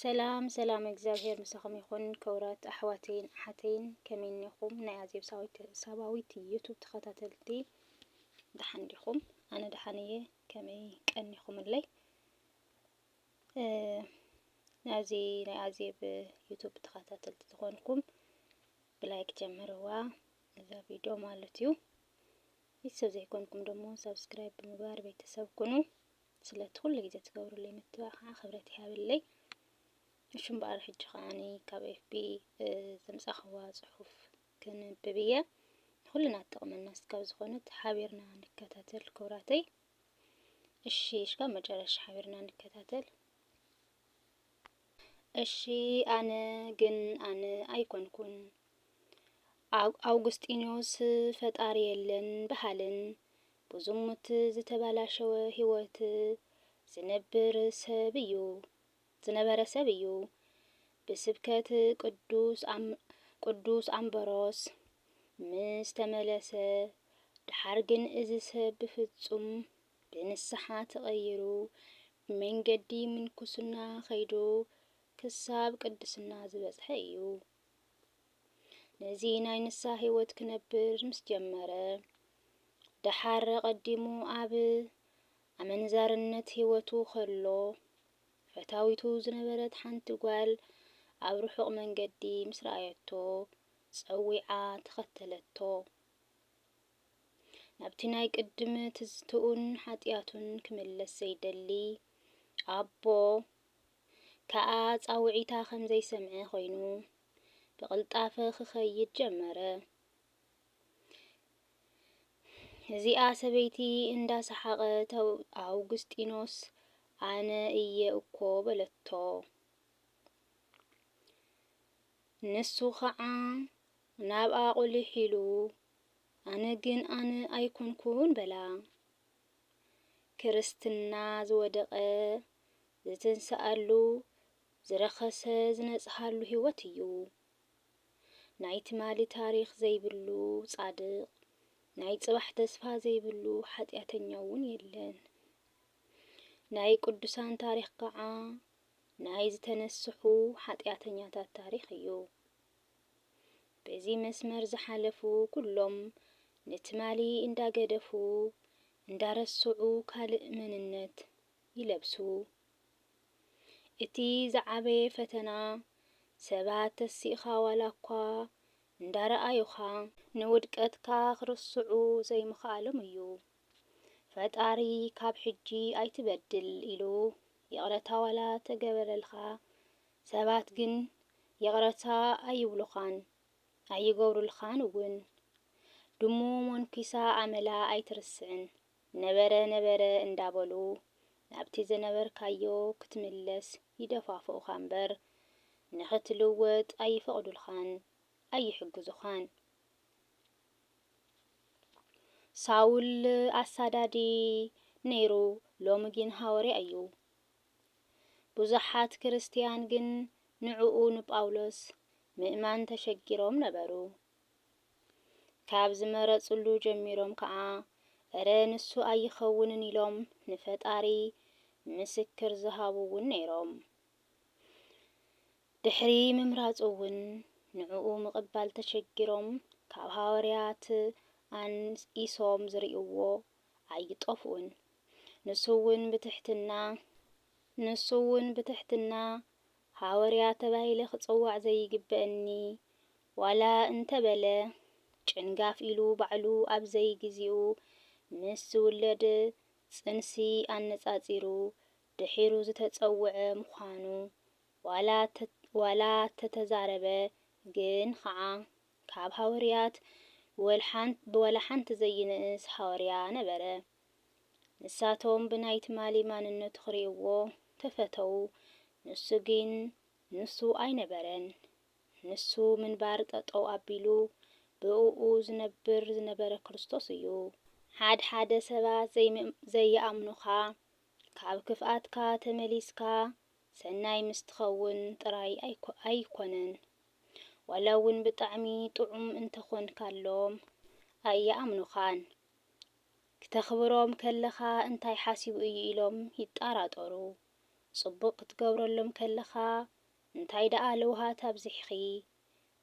ሰላም ሰላም እግዚኣብሔር ምሳኹም ይኹን ክብራት ኣሕዋተይን ኣሓተይን ከመይ እኒኹም ናይ ኣዜብ ሳባዊት ዩቱብ ተኸታተልቲ ደሓን ዲኹም? ኣነ ደሓን እየ ከመይ ቀኒኹምለይ? ናብዚ ናይ ኣዜብ ዩቱብ ተኸታተልቲ ዝኾንኩም ብላይክ ጀምርዋ እዛ ቪድዮ ማለት እዩ። ቤተሰብ ዘይኮንኩም ደግሞ ሰብስክራይብ ብምግባር ቤተሰብ ኩኑ። ስለቲ ኩሉ ግዜ ትገብርለይ ምትብባዕ ክብረት ይሃበለይ። እሺ እምበኣር ሕጂ ከኣኒ ካብ ኤፍቢ ዘምጻኽዋ ጽሑፍ ክንብብ እየ። ንኹልና ትጠቕመና እስካብ ዝኾነት ሓቢርና ንከታተል ክብራተይ። እሺ እስካብ መጨረሻ ሓቢርና ንከታተል። እሺ ኣነ ግን ኣነ ኣይኮንኩን ኣውግስጢኖስ ፈጣሪ የለን በሃልን ብዝሙት ዝተበላሸወ ህይወት ዝነብር ሰብ እዩ ዝነበረ ሰብ እዩ ብስብከት ቅዱስ ቅዱስ ኣምበሮስ ምስ ተመለሰ ደሓር ግን እዚ ሰብ ብፍጹም ብንስሓ ተቐይሩ ብመንገዲ ምንኩስና ከይዱ ክሳብ ቅድስና ዝበጽሐ እዩ። ነዚ ናይ ንስሃ ህይወት ክነብር ምስ ጀመረ፣ ደሓር ኣቐዲሙ ኣብ ኣመንዛርነት ህይወቱ ከሎ፣ ፈታዊቱ ዝነበረት ሓንቲ ጓል ኣብ ርሑቕ መንገዲ ምስ ረኣየቶ፣ ጸዊዓ ተኸተለቶ። ናብቲ ናይ ቅድም ትዝትኡን ሓጢኣቱን ክምለስ ዘይደሊ ኣቦ ከኣ ጻውዒታ ከም ዘይሰምዐ ኮይኑ፣ ብቕልጣፈ ክኸይድ ጀመረ። እዚኣ ሰበይቲ እንዳ ሰሓቐት ኣውግስጢኖስ ኣነ እየ እኮ በለቶ። ንሱ ኸዓ ናብኣ ቁሊሕ ኢሉ ኣነ ግን ኣነ ኣይኮንኩን በላ። ክርስትና ዝወደቐ ዝትንስኣሉ ዝረኸሰ ዝነጽሃሉ ሂወት እዩ ናይ ትማሊ ታሪኽ ዘይብሉ ጻድቕ ናይ ጽባሕ ተስፋ ዘይብሉ ሓጥያተኛ ውን የለን ናይ ቅዱሳን ታሪኽ ከኣ ናይ ዝተነስሑ ሓጥያተኛታት ታሪኽ እዩ በዚ መስመር ዝሓለፉ ኩሎም ንትማሊ እንዳገደፉ እንዳረስዑ ካልእ መንነት ይለብሱ እቲ ዝዓበየ ፈተና ሰባት ተሲእኻ ዋላኳ እንዳረኣዩኻ ንውድቀትካ ክርስዑ ዘይምኽኣሎም እዩ። ፈጣሪ ካብ ሕጂ ኣይትበድል ኢሉ ይቕረታ ዋላ ተገበረልኻ ሰባት ግን ይቕረታ ኣይብሉኻን ኣይገብሩልኻን እውን። ድሙ ሞንኲሳ ኣመላ ኣይትርስዕን። ነበረ ነበረ እንዳበሉ ናብቲ ዝነበርካዮ ክትምለስ ይደፋፍኡኻ እምበር ንኽትልወጥ ኣይፈቕዱልኻን ኣይሕግዙኻን። ሳውል ኣሳዳዲ ነይሩ ሎሚ ግን ሃወርያ እዩ። ብዙሓት ክርስትያን ግን ንዕኡ ንጳውሎስ ምእማን ተሸጊሮም ነበሩ። ካብ ዝመረጽሉ ጀሚሮም ከኣ እረ ንሱ ኣይኸውንን ኢሎም ንፈጣሪ ምስክር ዝሃቡ እውን ነይሮም። ድሕሪ ምምራጹ እውን ንዕኡ ምቕባል ተሸጊሮም ካብ ሃወርያት ኣንኢሶም ዝርእይዎ ኣይጠፍኡን። ንሱ እውን ብትሕትና ንሱ እውን ብትሕትና ሃወርያ ተባሂለ ክጽዋዕ ዘይግበእኒ ዋላ እንተበለ ጭንጋፍ ኢሉ ባዕሉ ኣብ ዘይግዚኡ ምስ ዝውለድ ጽንሲ ኣነጻጺሩ ድሒሩ ዝተጸውዐ ምዃኑ ዋላ ዋላ ተተዛረበ ግን ኸዓ ካብ ሃወርያት ብዋላ ሓንቲ ዘይንእስ ሃወርያ ነበረ። ንሳቶም ብናይ ትማሊ ማንነቱ ክሪእዎ ተፈተዉ ንሱ ግን ንሱ ኣይነበረን ንሱ ምንባር ጠጠው ኣቢሉ ብእኡ ዝነብር ዝነበረ ክርስቶስ እዩ። ሓድሓደ ሰባት ዘይኣምኑኻ ካብ ክፍኣትካ ተመሊስካ ሰናይ ምስ ትኸውን ጥራይ ኣይኮነን፣ ዋላ'ውን ብጣዕሚ ጥዑም እንተኾንካሎም ኣይኣምኑኻን። ክተኽብሮም ከለኻ እንታይ ሓሲቡ እዩ ኢሎም ይጣራጠሩ፣ ጽቡቕ ክትገብረሎም ከለኻ እንታይ ደኣ ለውሃት ኣብዚሕኺ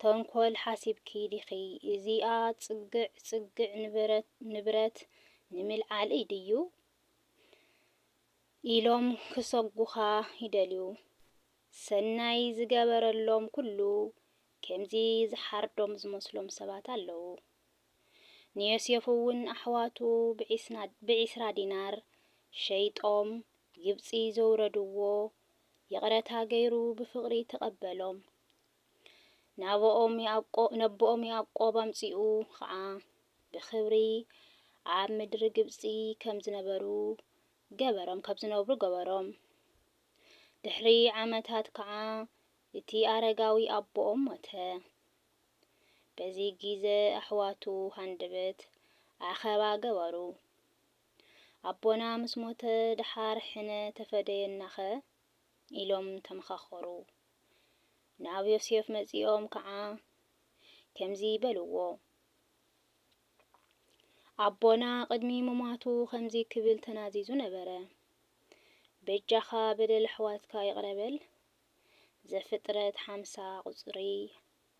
ተንኮል ሓሲብኪ ዲኺ እዚኣ ጽግዕ ጽግዕ ንብረት ንምልዓል እይ ድዩ ኢሎም ክሰጉኻ ይደልዩ ሰናይ ዝገበረሎም ኩሉ ከምዚ ዝሓርዶም ዝመስሎም ሰባት ኣለዉ ንዮሴፍውን ኣሕዋቱ ብዒስራ ዲናር ሸይጦም ግብጺ ዘውረድዎ ይቕረታ ገይሩ ብፍቕሪ ተቐበሎም። ነቦኦም ያእቆብ ኣምጺኡ ኸኣ ብኽብሪ ኣብ ምድሪ ግብጺ ከም ዝነብሩ ገበሮም። ድሕሪ ዓመታት ከኣ እቲ ኣረጋዊ ኣቦኦም ሞተ። በዚ ጊዘ ኣሕዋቱ ሃንደበት ኣኸባ ገበሩ። ኣቦና ምስ ሞተ ደሓር ሕነ ተፈደየናኸ? ኢሎም ተመኻኸሩ። ናብ ዮሴፍ መጺኦም ከኣ ከምዚ በልዎ፣ ኣቦና ቅድሚ ምሟቱ ከምዚ ክብል ተናዚዙ ነበረ፣ በጃኻ በደል ኣሕዋትካ ይቕረ በል፣ ዘፍጥረት ሓምሳ ቁጽሪ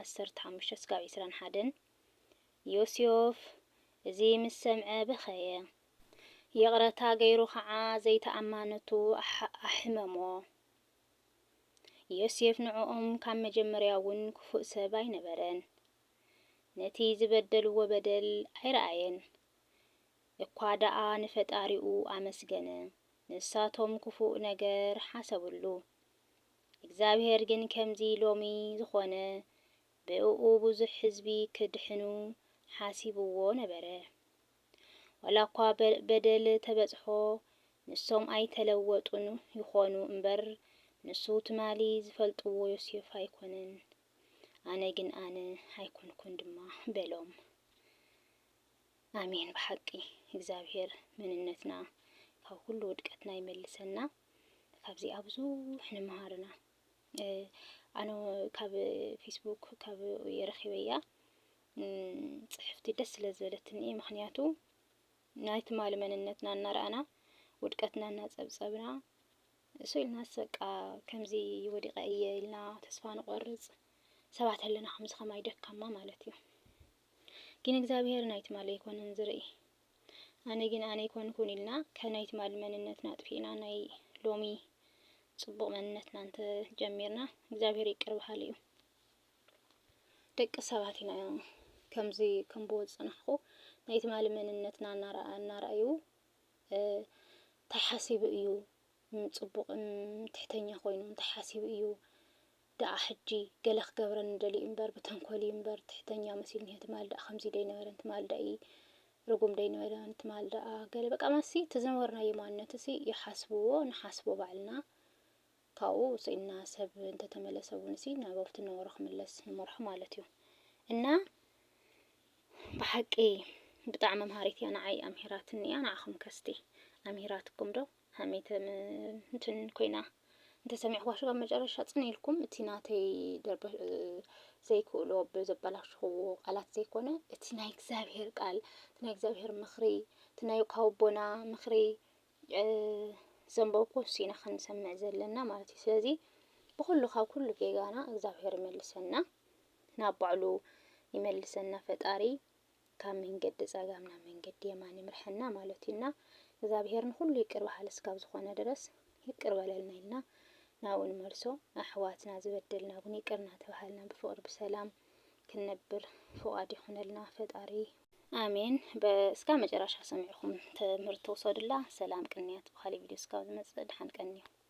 ዓሰርተ ሓሙሽተ ስጋብ ዕስራን ሓደን ዮስዮፍ እዚ ምስ ሰምዐ በኸየ፣ ይቕረታ ገይሩ ኸዓ ዘይተኣማነቱ ኣሕመሞ። ዮስዮፍ ንዕኦም ካብ መጀመርያውን ክፉእ ሰብ ኣይነበረን፣ ነቲ ዝበደልዎ በደል ኣይረኣየን፣ እኳ ደኣ ንፈጣሪኡ ኣመስገነ። ንሳቶም ክፉእ ነገር ሓሰብሉ። እግዚኣብሄር ግን ከምዚ ሎሚ ዝኾነ ብእኡ ብዙሕ ህዝቢ ክድሕኑ ሓሲብዎ ነበረ። ዋላኳ በደል ተበጽሖ ንሶም ኣይተለወጡን ይኾኑ እምበር ንሱ ትማሊ ዝፈልጥዎ ዮሴፍ ኣይኮነን። ኣነ ግን ኣነ ኣይኮንኩን ድማ በሎም። ኣሜን ብሓቂ እግዛብሄር መንነትና ካብ ኩሉ ውድቀትና ይመልሰና ካብዚኣ ብዙሕ ንምሃር እና ኣነ ካብ ፌስቡክ ካብ የረኺበያ ጽሕፍቲ ደስ ስለ ዝበለትኒ እየ ምክንያቱ ናይ ትማሊ መንነትና እናረኣና ውድቀትና እናጸብጸብና እሱ ኢልና ሰቃ ከምዚ ወዲቀ እየ ኢልና ተስፋ ንቆርጽ ሰባት ኣለና ከምዚ ከማይ ደካማ ማለት እዩ ግን እግዚኣብሄር ናይ ትማል ኣይኮነን ዝርኢ ኣነ ግን ኣነ ኣይኮንኩን ኢልና ካብ ናይ ትማል መንነትና ኣጥፊእና ናይ ሎሚ ጽቡቅ መንነትና እንተ ጀሚርና እግዚኣብሄር ይቅር በሃሊ እዩ ደቂ ሰባት ኢና ከምዚ ከም ብወ ዝጽናሕኩ ናይ ትማል መንነትና እናረኣዩ እንታይ ሓሲቡ እዩ ጽቡቅን ትሕተኛ ኮይኑ እንታይ ሓሲቡ እዩ ደኣ ሕጂ ገለ ክገብረኒ ደልዩ እምበር ብተንኮል እዩ እምበር ትሕተኛ መሲሉ ኒሀ ትማል ደኣ ከምዚ ደይነበረን ትማል ደኣ እዪ ርጉም ደይነበረን ትማል ደኣ ገለ በቃ ማሲ እቲ ዝነበርናዮ ማንነት እዚ ይሓስብዎ ንሓስቦ ባዕልና ካብኡ ስኢንና ሰብ እንተተመለሰ እውን እዚ ናብ ኣብቲ ነበሮ ክምለስ ንመርሖ ማለት እዩ እና ብሓቂ ብጣዕሚ መምሃሪት እያ ንዓይ ኣምሂራትኒ እያ ንዓኹም ከ እስቲ ኣምሂራትኩም ዶ? ሃሜት እንትን ኮይና እንተሰሚዕኹዋ ሽቃብ መጨረሻ ጽን ኢልኩም እቲ ናተይ ደርበ ዘይክእሎ ብዘበላሽኽዎ ቃላት ዘይኮነ እቲ ናይ እግዚኣብሄር ቃል እቲ ናይ እግዚኣብሄር ምኽሪ እቲ ናይ ካውቦና ምኽሪ ዘንበብኩ ሲና ክንሰምዕ ዘለና ማለት እዩ ስለዚ ብኩሉ ካብ ኩሉ ጌጋና እግዚኣብሔር ይመልሰና ናብ ባዕሉ ይመልሰና ፈጣሪ ካብ መንገዲ ጸጋም ናብ መንገዲ የማን ይምርሐና ማለት እዩ እና እግዝኣብሄር ንኹሉ ይቅር በሃሊ እስካብ ዝኾነ ድረስ ይቅር በለልና ኢልና ናብኡ ንመልሶ ኣሕዋትና ዝበደልና እውን ይቅር እናተባሃልና ብፍቅሪ ብሰላም ክንነብር ፍቃድ ይኹነልና ፈጣሪ። ኣሜን እስካብ መጨራሻ ሰሚዕኹም ትምህርቲ ውሰዱላ ሰላም ቅንያት ብካሊእ ቪድዮ እስካብ ዝመጽእ ድሓን ቀንዩ።